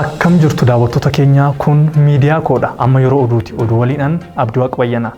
Akkam jirtu daawwattoota keenyaa kun miidiyaa koodha amma yeroo oduuti oduu waliinan Abdiwaaq Bayyanaa.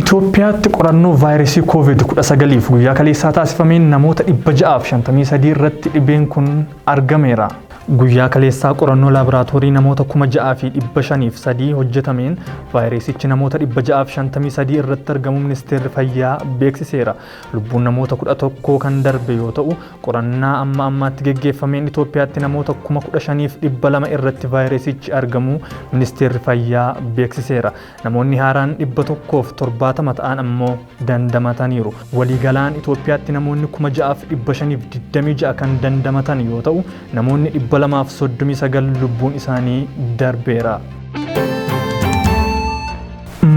Itoophiyaatti qorannoo vaayirasii COVID-19f guyyaa kaleessaa taasifameen namoota 653 irratti dhibeen kun argameera. Guyyaa kaleessaa qorannoo laaboraatoorii namoota 6,503 hojjetameen vaayiresichi namoota 653 irratti argamuu Ministeerri Fayyaa beeksiseera. Lubbuun namoota 11 kan darbe yoo ta'u, qorannaa amma ammaatti geggeeffameen Itoophiyaatti namoota 15,200 irratti vaayiresichi argamuu Ministeerri Fayyaa beeksiseera. Namoonni haaraan 170 ta'an ammoo dandamataniiru. Waliigalaan Itoophiyaatti namoonni 6526 kan dandamatan yoo ta'u, namoonni 239 lubbuun isaanii darbeera.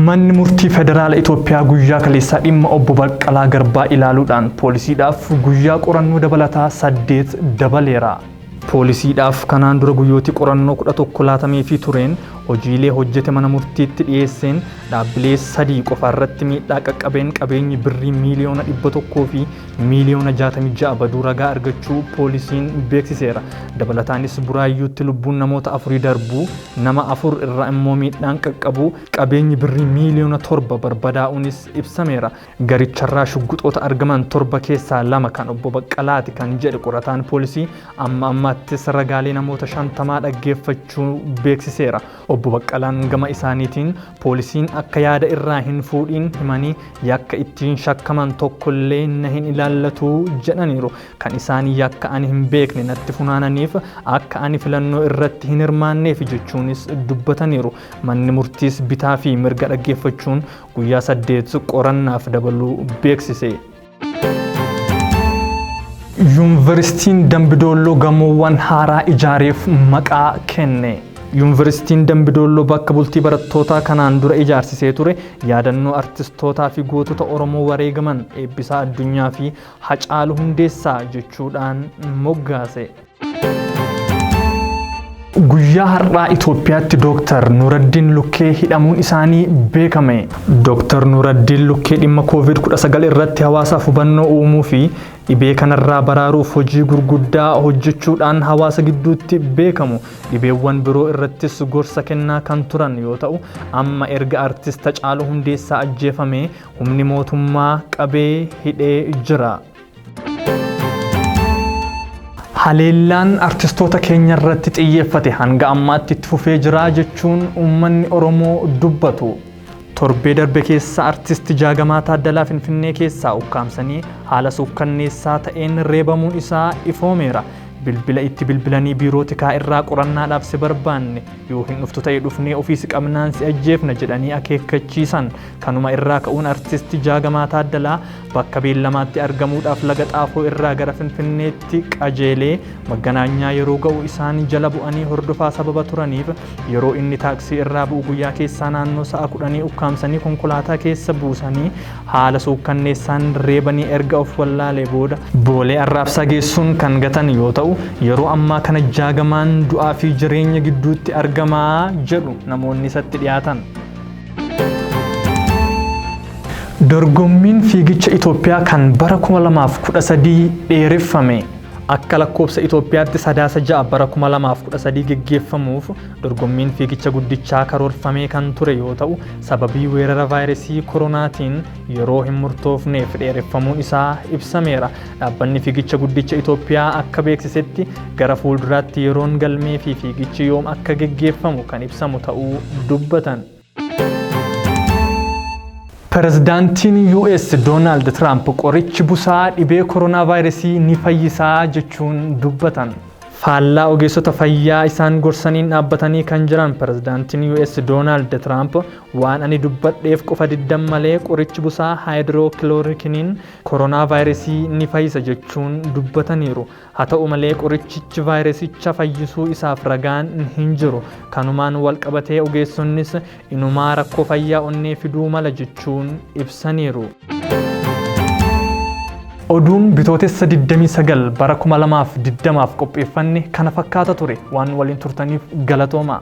Manni murtii federaala Itoophiyaa guyyaa kaleessaa dhimma obbo Baqqalaa Garbaa ilaaluudhaan poolisiidhaaf guyyaa qorannoo dabalataa saddeet dabaleera. Poolisiidhaaf kanaan dura guyyootii qorannoo 11 laatameefii tureen hojiilee hojjete mana murtiitti dhiyeesseen dhaabbilee sadii qofaarratti miidhaa qaqqabeen qabeenyi birrii miiliyoona 100 fi miiliyoona 66 baduu ragaa argachuu poolisiin beeksiseera. Dabalataanis Buraayyuutti lubbuun namoota afurii darbuu, nama afur irraa immoo miidhaan qaqqabuu, qabeenyi birrii miiliyoona 7 barbadaa'uunis ibsameera. Garicharraa shugguxoota argaman torba keessaa lama kan Obbo Baqqalaati kan jedhe qorataan poolisii, amma ammaattis ragaalee namoota shantamaa dhaggeeffachuu beeksiseera. Obbo Baqqalaan gama isaaniitiin, poolisiin akka yaada irraa hin fuudhiin himanii yakka ittiin shakkaman tokkollee na hin ilaallatu jedhaniiru. Kan isaan yakka ani hin beekne natti funaananiif akka ani filannoo irratti hin hirmaanneefi jechuunis dubbataniiru. Manni murtiis bitaa fi mirga dhaggeeffachuun guyyaa saddeet qorannaaf dabaluu beeksise. Yuunivarsiitiin Dambidoolloo gamoowwan haaraa ijaareef maqaa kenne. Yuunivarsiitiin Dambidoolloo bakka bultii barattootaa kanaan dura ijaarsisee ture yaadannoo artistootaa fi gootota Oromoo wareegaman Eebbisaa Addunyaa fi Hacaalu Hundeessaa jechuudhaan moggaase. Guyyaa har'aa Itoophiyaatti Dooktar Nuuraddiin Lukkee hidhamuun isaanii beekame. Dooktar Nuuraddiin Lukkee dhimma COVID-19 irratti hawaasaaf hubannoo uumuu fi dhibee kanarraa baraaruuf hojii gurguddaa hojjechuudhaan hawaasa gidduutti beekamu. Dhibeewwan biroo irrattis gorsa kennaa kan turan yoo ta'u, amma erga artist Hacaaluu Hundeessaa ajjeefamee humni mootummaa qabee hidhee jira. Haleellaan artistoota keenya irratti xiyyeeffate hanga ammaatti itti fufee jira jechuun uummanni Oromoo dubbatu. Torbee darbe keessa artisti Jaagamaa Taaddalaa Finfinnee keessaa ukkaamsanii haala suukkanneessaa ta'een reebamuun isaa ifoomeera. Bilbila itti bilbilanii biiroo tikaa irraa qorannaadhaaf si barbaanne yoo hin dhuftu ta'e dhufnee ofii si qabnaan si ajjeefna jedhanii akeekkachiisan. Kanuma irraa ka'uun artisti Jaagamaa Taaddalaa Bakka beellamaatti argamuudhaaf Laga Xaafoo irraa gara Finfinneetti qajeelee Magganaanyaa yeroo ga'u isaan jala bu'anii hordofaa sababa turaniif yeroo inni taaksii irraa bu'u guyyaa keessaa naannoo sa'a kudhanii ukkaamsanii konkolaataa keessa buusanii haala suukkanneessaan reebanii erga of wallaalee booda Boolee Arraabsaa geessuun kan gatan yoo ta'u, yeroo ammaa kana Jaagamaan du'aa fi jireenya gidduutti argama jedhu namoonni isatti dhiyaatan. Dorgommiin fiigicha Itoophiyaa kan bara 2013 dheereffame. Akka lakkoobsa Itoophiyaatti sadaasa 6 bara 2013 geggeeffamuuf dorgommiin fiigicha guddichaa karoorfamee kan ture yoo ta'u sababii weerara vaayirasii koronaatiin yeroo hin murtoofneef dheereffamuun isaa ibsameera. Dhaabbanni Fiigicha Guddicha Itoophiyaa akka beeksisetti gara fuulduraatti yeroon galmee fi fiigichi yoom akka geggeeffamu kan ibsamu ta'uu dubbatan. Pirezidaantiin US Doonaald Tiraamp qorichi busaa dhibee koronaavaayirasii ni fayyisaa jechuun dubbatan. Faallaa ogeessota fayyaa isaan gorsaniin dhaabbatanii kan jiran pirezidaantiin US Doonaald Tiraamp waan ani dubbadheef qofa diddan malee qorichi busaa haayidirookiloorikiniin koronaavaayirasii ni fayyisa jechuun dubbataniiru. Haa ta'u malee qorichichi vaayirasicha fayyisuu isaaf ragaan hin jiru. Kanumaan walqabatee ogeessonnis inumaa rakkoo fayyaa onnee fiduu mala jechuun ibsaniiru. Oduun Bitootessa 29 bara 2020f qopheeffanne kana fakkaata ture. Waan waliin turtaniif galatoomaa.